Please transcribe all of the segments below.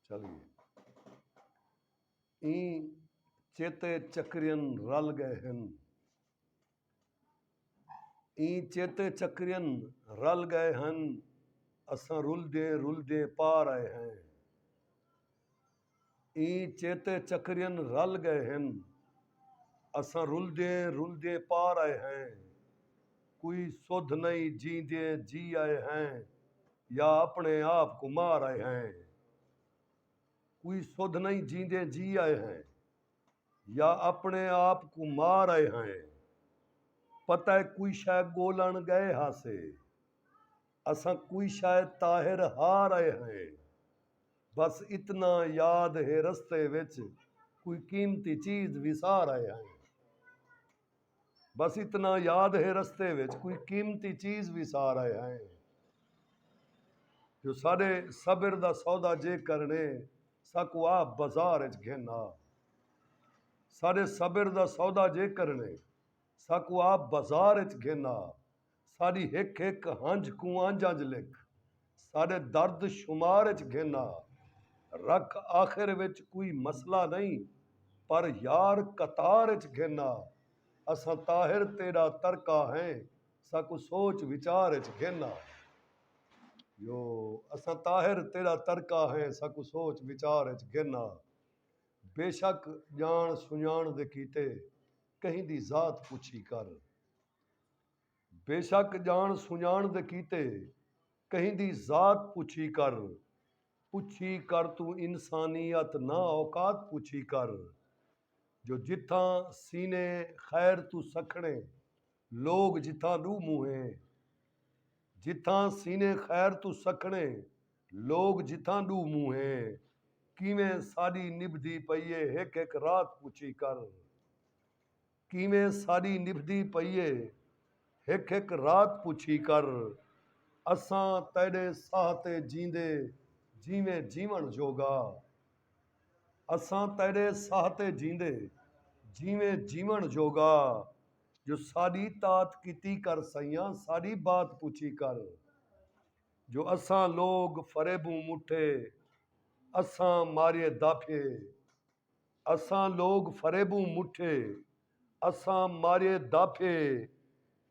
چل گئے ایں چیتے چکرین رل گئے ہن ایں چیتے چکرین رل گئے ہن اساں رل دے رل دے پار آئے ہیں ایں چیتے چکرین رل گئے ہن اساں رل دے رل دے پار آئے ہیں کوئی سدھ نئیں جیندیں جی آئے ہیں یا اپنے آپ کوں مار آئے ہیں کوئی سدھ نئیں جیندیں جی آئے ہیں یا اپنے آپ کو مار آئے ہیں پتہ ہے کوئی شے گولن گئے ہاسے اساں کوئی شے طاہر ہار آئے ہیں بس اتنا یاد ہے رستے وچ کوئی قیمتی چیز وسار آئے ہیں بس اتنا یاد ہے رستے وچ کوئی قیمتی چیز وی سار آئے ہائیں جو ساڈے صبر دا سودا جے کرنے ساکو آ بازار وچ گھن آ ساڈے صبر دا سودا جے کرنے ساکو آ بازار وچ گھن آ ساݙی ہک ہک ہنجھ کوں انج انج لکھ ساݙے درد شمار اچ گھن آ رکھ آخر وچ کوئی مسئلہ نئیں پر یار قطار اچ گھن آ اساں طاہر تیݙا ترکا ہیں ساکوں سوچ وچار اچ گھن آ جو اساں طاہر تیݙا ترکا ہیں ساکوں سوچ وچار اچ گھن آ بیشک ڄاݨ سنڄاݨ دے کیتے کہیں دی ذات پچھی کر بیشک ڄاݨ سنڄاݨ دے کیتے کہیں دی ذات پچھی کر، پچھی کر توں انسانیت نہ اوقات پچھی کر جو جتھاں سینے خیر توں سکھڑیں لوک جتھاں ݙو منہے جتھاں سینے خیر توں سکھڑیں لوک جتھاں ݙو منہے کیویں ساݙی نبھدی پئی اے ہک ہک رات پچھی کر۔ کیویں ساݙی نبھدی پئی اے ہک ہک رات پچھی کر اساں تیݙے ساہ تے جیندے جیویں جیوݨ جوڳا اساں تیݙے ساہ تے جیندے جیویں جیوݨ جوڳا جو ساݙی تات کیتی کر سئیاں ساݙی بات پچھی کر جو اساں لوگ فریبوں مٹھے اساں ماریے داپھیے اساں لوگ فریبوں مٹھے اساں ماریے داپھے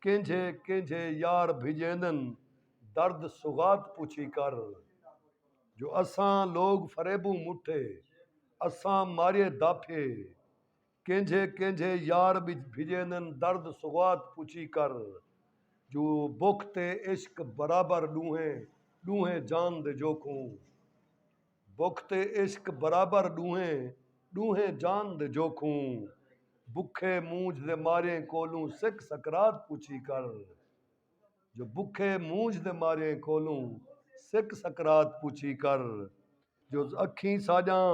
کینجھے کینجھے یار بھجیندن درد سوغات پوچھی کر جو اساں لوگ فریبوں مٹھے اساں ماریے داپھے کینجھے کینجھے یار بھجیندن درد سوغات پوچھی کر جو بکھ تے عشق برابر ڈوہیں ڈوہیں جان دے جوکھوں بکھ تے عشق برابر ݙوہیں، ݙوہیں جان دے جوکھوں بکھے مونجھ دے ماریں کولوں سک سکرات پچھی کر جو بکھے مونجھ دے ماریں کولوں سک سکرات پچھی کر جو اکھیں ساڄاں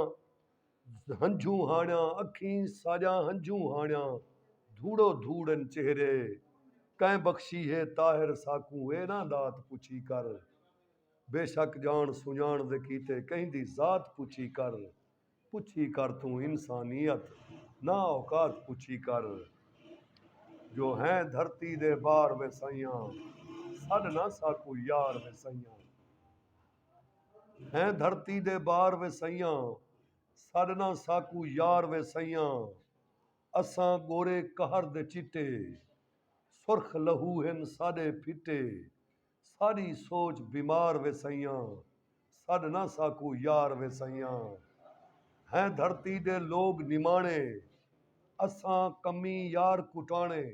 ہنجھوں ہاݨیاں اکھیں ساڄاں ہنجھوں ہاݨیاں دھوڑو دھوڑ ہن چہرے کئیں بخشی ہے طاہر ساکوں اے ناں دات پچھی کر۔ بے شک ڄاݨ سنڄاݨ دے کیتے کہیں دی ذات پچھی کر پچھی کر توں انسانیت نا اوقات پچھی کر جو ہیں دھرتی دے بار وے سئیاں سݙ نا ساکوں یار وے سئیاں ہیں دھرتی دے بار وے سئیاں سݙ نا ساکوں یار وے سئیاں اساں ڳورے قہر دے چٹے سرخ لہو ہن ساݙے پھٹے ساݙی سوچ بیمار وے سئیاں سݙ نہ ساکوں یار وے سئیاں ہیں دھرتی دے لوگ نماݨے اساں کمی یار کٹاݨے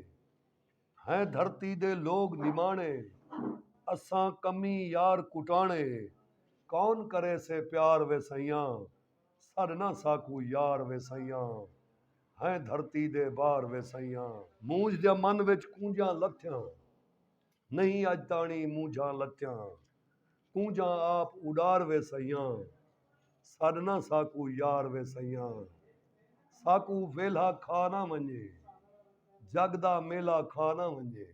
ہیں دھرتی دے لوگ نماݨے اساں کمی یار کٹاݨے کون کریسے پیار وے سئیاں سݙ نہ ساکوں یار وے سئیاں ہیں دھرتی دے بار وے سئیاں۔ مونجھ دیاں من وچ کونجاں لتھیاں۔ نہیں اج تاݨی مونجھاں لتیاں کونجھاں آپ اݙار وے سئیاں سݙ نہ ساکوں یار وے سئیاں ساکوں ویلھا کھا نہ ونڄے جڳ دا میلہ کھا نہ ونڄے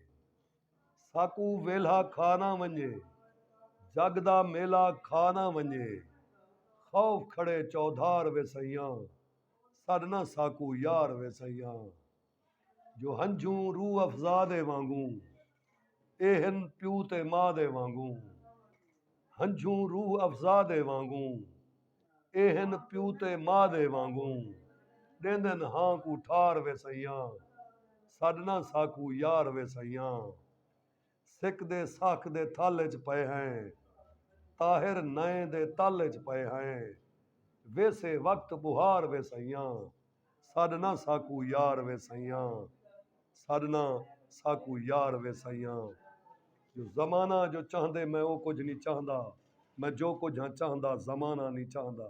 ساکوں ویلھا کھا نہ ونڄے جڳ دا میلہ کھا نہ ونڄے خوف کھڑے چوہدار وے سئیاں سݙ نہ ساکوں یار وے سئیاں جو ہنجھوں روح افزا دے وانگوں اے ہن پیو تے ماء دے وانگوں ہنجھوں روح افزا دے وانگوں اے ہن پیو تے ماء دے وانگوں ݙیندن ہاں کوں ٹھار وے سئیاں سݙ نہ ساکوں یار وے سئیاں سک دے ساکھ دے تھل اچ پئے ہیں۔ طاہر نئیں دے تل اچ پئے ہیں۔ ویسے وقت ٻہار وے سئیاں۔ سݙ نہ ساکوں یار وے سئیاں۔ سݙ نہ ساکوں یار وے سئیاں۔ جو زمانہ جو چاہندے میں او کجھ نی چاہندا۔ میں جو کجھ ہاں چاہندا زمانہ نی چاہندا۔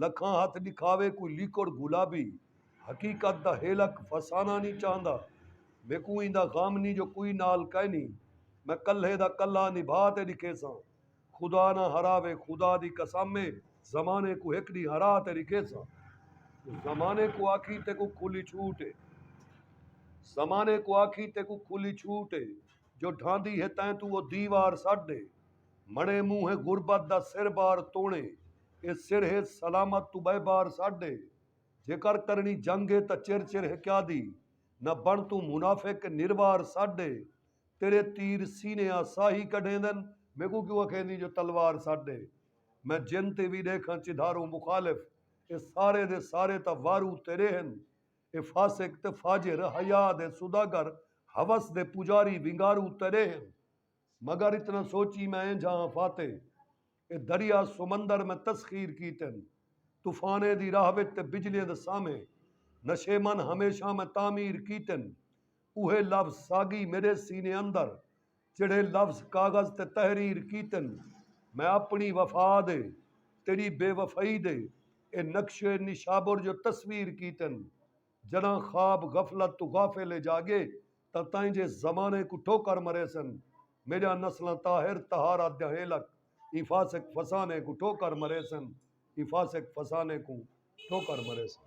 لکھاں ہتھ ݙکھاوے کوئی لیکوڑ گلابی حقیقت دا ہیلک فساناں نی چاہندا میکوں ایندا غم نی جو کوئی نال کائنی میں کلھے دا کلھا نبھا تے ݙکھیساں خدا نہ ہراوے خدا دی قسم اے زمانے کوں ہک ݙینہہ ہرا تے ݙکھیساں زمانے کوں آکھیں تیکوں کھلی چھوٹ اے زمانے کوں آکھیں تیکوں کھلی چھوٹ اے جو ڈھاندی ہے تیں توں او دیوار سٹ ݙے۔ مڑیں مونہہ غربت دا سر بار توڑیں اے سر ہے سلامت توں بئے بار ساڈے جیکر کرنی جنگ ہے تاں چر چر ہکیا دی نہ بن توں منافق نروار ساڈے تیرے تیر سینے آ ساہی کڈھیندن میکوں کیوں اکھیندی جو تلوار ساڈے میں جن تے وی ڈیکھاں چدھاروں مخالف اے سارے دے سارے تاں وارو تیرے ہن اے فاسق تے فاجر حیا دے سوداگر ہوس دے پجاری ونگارو تیرے ہن۔ مگر اتنا سوچی میں ایں جھاں فاتح اے دریا سمندر میں تسخیر کیتن طوفانیں دی راہ وچ تے بجلیاں دے سامھے نشیمن ہمیشاں میں تعمیر کیتن اوہے لفظ ساگی میڈے سینے اندر جیڑھے لفظ کاغذ تے تحریر کیتن میں اپنی وفا دے تیڈی بے وفائی دے اے نقش و اے نشابر جو تصویر کیتن جڈاں خواب غفلت توں غافل اے جاگے تاں تائیں جے زمانے کوں ٹھوکر مریسن میڈیاں نسلاں طاہر طہارت دیاں ہیلک ایں فاسق فسانے کوں ٹھوکر مریسن ایں فاسق فسانے کوں ٹھوکر مریسن